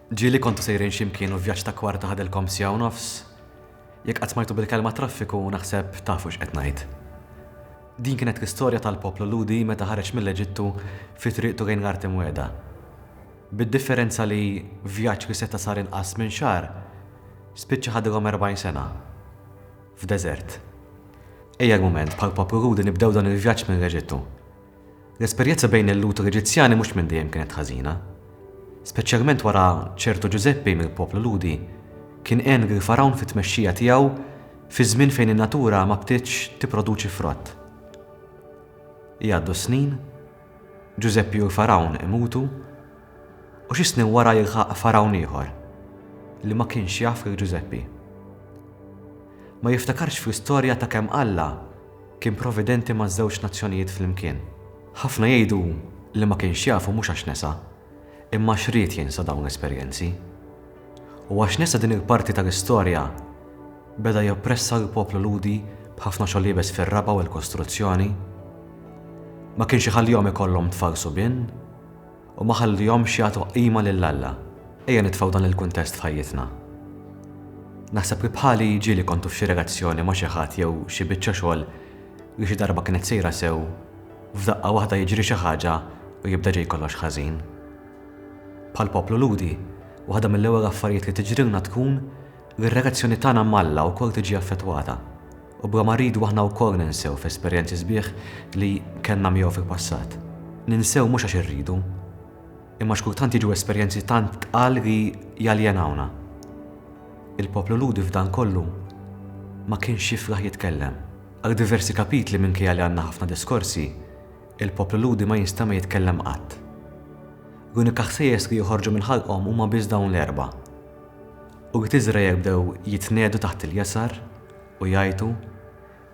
Ġieli kontu sejrin xi mkien u vjaġġ ta' kwarta ħadilkom siegħa u nofs. Jekk qatt smajtu bil-kelma traffiku naħseb tafu x'qed ngħid. Din kienet l-istorja tal-poplu Lhudi meta ħareġ mill-Eġittu fi triqtu lejn l-Art Imwiegħda. Bid-differenza li vjaġġ li seta' sar inqas minn xahar, spiċċa ħadilhom erbgħin sena. F'deżert. Ejja l-mument bħall-poplu Lhudi nibdew dan il-vjaġġ mill-Eġittu. L-esperjezza bejn il-Lhud u l-Eġizzjani mhux minn dejjem kienet ħażina. Speċjalment wara ċertu Ġużeppi mill-poplu Lhudi kien għen lill-Fargħun fit-tmexxija tiegħu fi żmien fejn in-natura ma bdietx tipproduċi frott. Jgħaddu s-snin, Ġużeppi u l-Fargħun imutu, u xi snin wara jilħaq Fargħun ieħor li ma kienx jaf lil Ġużeppi. Ma jiftakarx fl-istorja ta' kemm Alla Kien providenti maż-żewġ nazzjonijiet flimkien. Ħafna jgħidu hu li ma kienx jafu mhux għax nesa, imma għax ried jinsa dawn l-esperjenzi. U għax nesa din il-parti tal-istorja, beda joppressa lill-poplu Lhudi b'ħafna xogħol iebes fir-raba' u l-kostruzzjoni. Ma kienx iħallihom ikollhom tfal subien. U ma ħallihomx jagħtu qima lil Alla. Ejja nitfgħu dan il-kuntest f'ħajjitna. Naħseb li bħali ġieli kontu f'xi relazzjoni ma' xi ħadd jew xi biċċa xogħol li xi darba kienet sejra sew, f'daqqa waħda jiġri xi ħaġa u jibda ġej kollox ħażin. Bħall-poplu Lhudi, waħda mill-ewwel affarijiet li tiġrilna tkun li r-relazzjoni tagħna m'Alla wkoll tiġi affettwata. U bla ma rridu aħna wkoll ninsew fl-esperjenzi sbieħ li kellna miegħu fil-passat. Ninsew mhux għax irridu, imma għax kultant jiġu esperjenzi tant tqal li jaljenawna. Il-poplu Lhudi f'dan kollu ma kienx jiflaħ jitkellem. Għal diversi kapitli minkejja li għandna ħafna diskorsi, il-poplu Lhudi ma jinstema' jitkellem qatt. L-unika ħsejjes li joħorġu minn ħalqhom huma biss dawn l-erbgħa. U li t'Iżrael bdew jitniegħdu taħt il-jasar, U jgħajtu,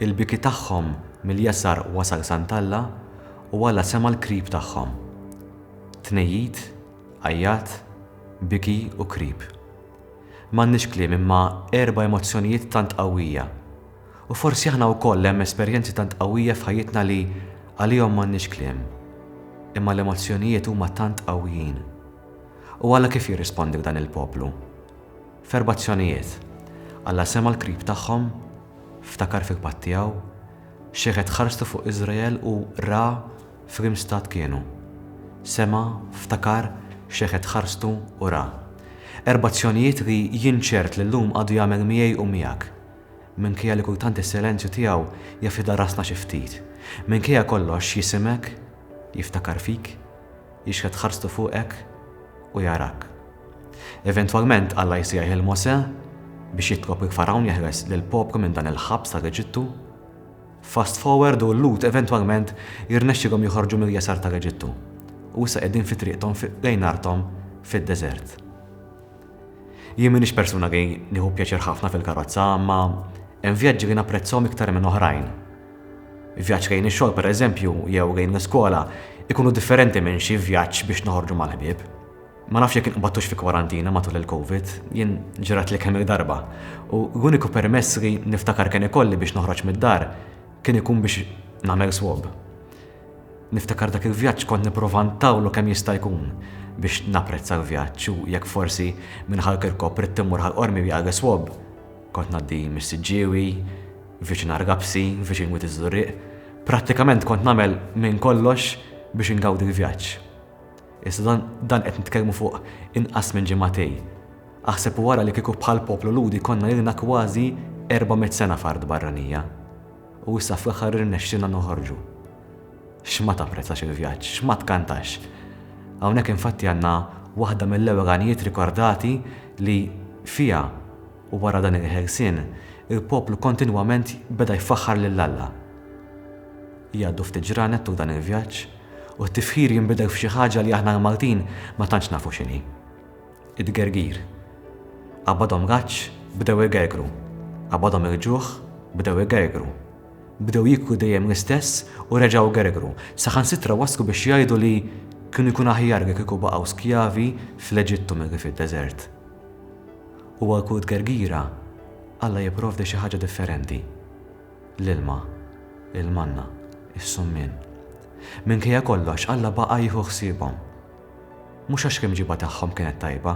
il-biki tagħhom mill-jasar wasal sand'Alla u Alla sema' l-krib tagħhom. Tnejjid, għajjat, biki u krib. M'għandniex kliem imma erba' emozzjonijiet tant qawwija. U forsi aħna wkoll hemm esperjenzi tant qawwija f'ħajjitna li għalihom m'għandniex kliem. Imma l-emozzjonijiet huma tant qawwijin. U Alla kif jirrispondi f'dan il-poplu? F'erba' azzjonijiet, Alla sema' l-krib tagħhom, ftakar fil-patt tiegħu, xeħet ħarstu fuq Iżrael u ra f'liem stat kienu. Sema', ftakar, xeħet ħarstu u ra. Erba' azzjonijiet li jien ċert li llum għadu jagħmel miegħi u miegħek. Minkejja li kultant is-silenzju tiegħu jaf idarrasna xi ftit. Minkejja kollox jisimek, jiftakar fik, jixħet ħarstu fuqek u jarak. Eventwalment Alla jsejjaħ lil Mosè biex jitlob lil Fargħun jeħles lill-poplu minn dan il-ħabs tal-Eġittu. Fast forward u l-Lhud eventwalment jirnexxilhom joħorġu mill-jasar tal-Eġittu u issa qegħdin fi triqthom lejn arthom fid-deżert. Jien m'iniex persuna li nieħu pjaċir ħafna fil-karozza, imma hemm vjaġġi li napprezzhom iktar minn oħrajn. Vjaġġ lejn ix-xogħol pereżempju jew lejn l-iskola ikunu differenti minn xi vjaġġ biex noħorġu mal-ħbieb. Ma nafx jekk inqbadtux fi kwarantina matul il-Covid, jien ġratli kemm-il darba, u l-uniku permess li niftakar kien ikolli biex noħroġ mid-dar kien ikun biex nagħmel swab. Niftakar dak il-vjaġġ kont nipprova ntawlu kemm jista' jkun biex napprezza l-vjaġġ u jekk forsi minn Ħal Kirkop ridt immur Ħal Qormi għal is-swab, kont ngħaddi mis-Siġġiewi, viċin Argapsi, viċin Wied iż-Żurrieq, prattikament kont nagħmel minn kollox biex ingawdi l-vjaġġ. Iżda dan qed nitkellmu fuq inqas minn ġimagħtej. Aħseb u ara li kieku bħal poplu Lhudi konna ilna kważi erba' mitt sena f'art barranija. U issa fl-aħħar irnexxielna noħorġu. X'ma tapprezzax il-vjaġġ, x'ma tkantax! Hawnhekk infatti għandna waħda mill-ewwel għanijiet rikordati li fiha u wara dan il-ħelsien il-poplu kontinwament beda jfaħħar lil Alla. Jgħaddu ftit ġranet tul dan il-vjaġġ, u t-tifħir jinbidel f'xi ħaġa li aħna l-Maltin ma tantx nafu x'inhi. It-tgergir. Qabadhom raġġ, bdew igergru. Qabadhom il-ġuħ, bdew igergru. Bdew jieklu dejjem l-istess u reġgħu gergru, saħansitra waslu biex jgħidu li kienu jkun aħjar li kieku baqgħu skjavi fl-Eġittu milli fid-deżert. U għal kull tgergira, Alla jipprovdi xi ħaġa differenti. l-ilma, il-manna, is-summien. Minkejja kollox, Alla baqa' jieħu ħsiebhom. Mhux għax l-imġiba tagħhom kienet tajba,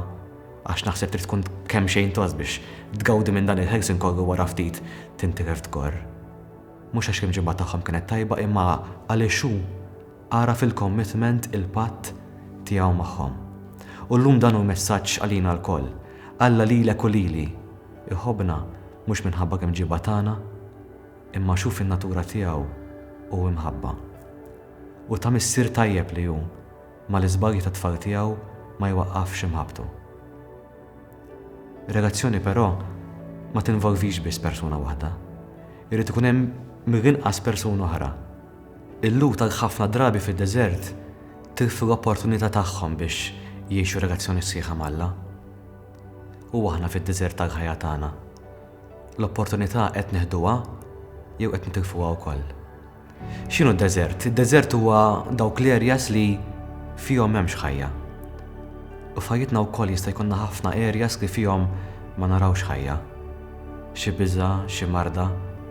għax naħseb trid tkun kemxejn tost biex tgawdi minn dan il-ħelsien kollu u wara ftit tinti kif tkorr. Mhux għax l-imġiba tagħhom kienet tajba imma għaliex hu Ara fil-commitment il-patt Tiegħu magħhom. U llum dan hu messaġġ għalina lkoll, Alla lilek u lili, iħobbna mhux minħabba kemm ġiebha tagħna, imma għax hu fin-natura tiegħu hu imħabba. U ta' missier tajjeb li hu, mal-iżbalji tat-tfal tiegħu ma jwaqqafx imħabbtu. Relazzjoni però ma tinvolvix biss persuna waħda. Irid ikun hemm mill-inqas persuna oħra. Il-lhud għal ħafna drabi fid-deżert tilfu l-opportunità tagħhom biex jgħixu relazzjoni sħiħa m'Alla. U aħna fid-deżert tal-ħajja tagħna? L-opportunità qed neħduha jew qed nitilfuha wkoll? X'inhu d-deżert? Id-deżert huwa dawk l-areas li fihom m'hemmx ħajja. U f'ħajjitna wkoll jista' jkollna ħafna areas li fihom ma narawx ħajja. xi biża', xi marda,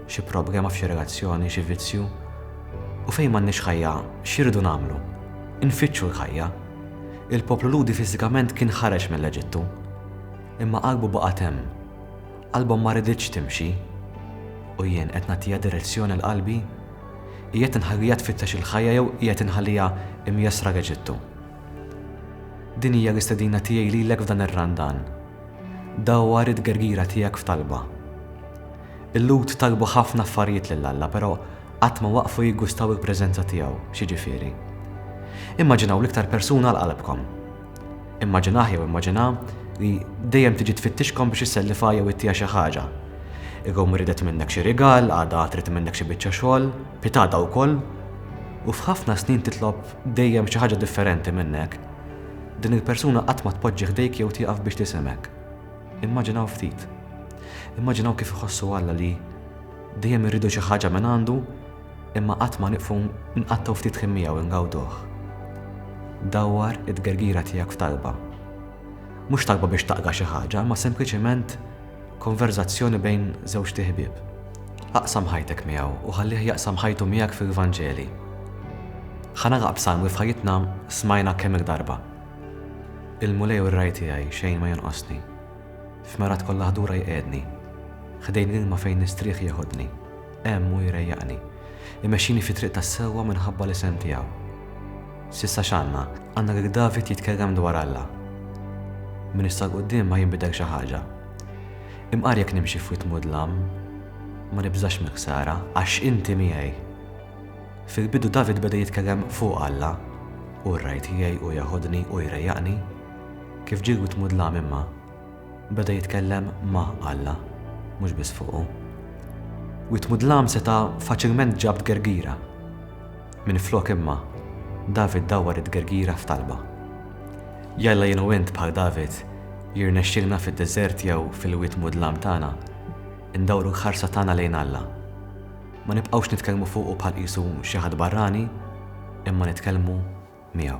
xi problema f'xi relazzjoni, xi vizzju. U fejn m'għandniex ħajja, x'irridu nagħmlu? Infittxu l-ħajja. Il-poplu Lhudi fiżikament kien ħareġ mill-Eġittu. Imma qalbu baqgħet hemm. Qalbhom ma riditx timxi. U jien qed nagħtiha direzzjoni l-qalbi? Qiegħed inħalliha tfittex il-ħajja jew qiegħed inħalliha mjessra l-Eġittu? Din hija l-istedina tiegħi lilek f'dan ir-Randan. Dawwar it-tgergira tiegħek f'talba. Il-Lhud talbu ħafna affarijiet lil Alla, però qatt ma waqfu jiggustaw il-preżenza tiegħu, x'jiġifieri? Immaġinaw l-iktar persuna għal qalbkom. Immaġinah jew immaġinha li dejjem tiġi tfittixkom biex issellifha jew ittiha xi ħaġa. Illum ridet minnek xi rigal, għada trid minnhek xi biċċa xogħol, pitgħada wkoll, u f'ħafna snin titlob Dejjem xi ħaġa differenti minnek. Din il-persuna qatt ma tpoġġi ħdejk jew tieqaf biex tisimgħek. Immaġinaw ftit. Immaġinaw kif iħossu Alla li dejjem irridu xi ħaġa minn għandu imma qatt ma nieqfu nqattgħu ftit ħin miegħu ingawduh. Dawwar it-tgergira tiegħek f'talba. Mhux talba biex taqga' xi ħaġa, imma sempliċement Konverżazzjoni bejn żewġt iħbieb. Aqsam ħajtek miegħu u ħallih jaqsam ħajtu miegħek fil-Vanġeli. Ħa nagħlaq b'salm li f'ħajjitna smajna kemm-il darba, Il-Mulej hu r-ragħaj tiegħi, xejn ma jonqosni. F'merat kollha ħdura jqiegħdni, ħdejn l-ilma fejn nistrieħ jeħodni. Hemm hu jrejjaqni. Imexxini fit-triq tas-sewwa minħabba l-isem tiegħu. S'issa x'għandna? Għandna lil David jitkellem dwar Alla. Minn issa 'l quddiem ma jinbidel xi ħaġa. Imqar jekk nimxi f'wied mudlam, ma nibżax mill-ħsara, għax inti miegħi. Fil-bidu David beda jitkellem fuq Alla, Hu r-ragħaj tiegħi, hu jeħodni, hu jrejjaqni. Kif ġie l-wied mudlam imma? Beda jitkellem ma' Alla, mhux biss fuqu. Wied mudlam seta' faċilment ġab tgergira. Minflok imma, David dawwar it-tgergira f'talba. Jalla jien u int bħal David jirnexxilna fid-deżert jew fil-wied mudlam tagħna ndawru l-ħarsa tagħna lejn Alla. Ma nibqgħux nitkellmu fuqu bħal qisu xi ħadd barrani, imma nitkellmu miegħu.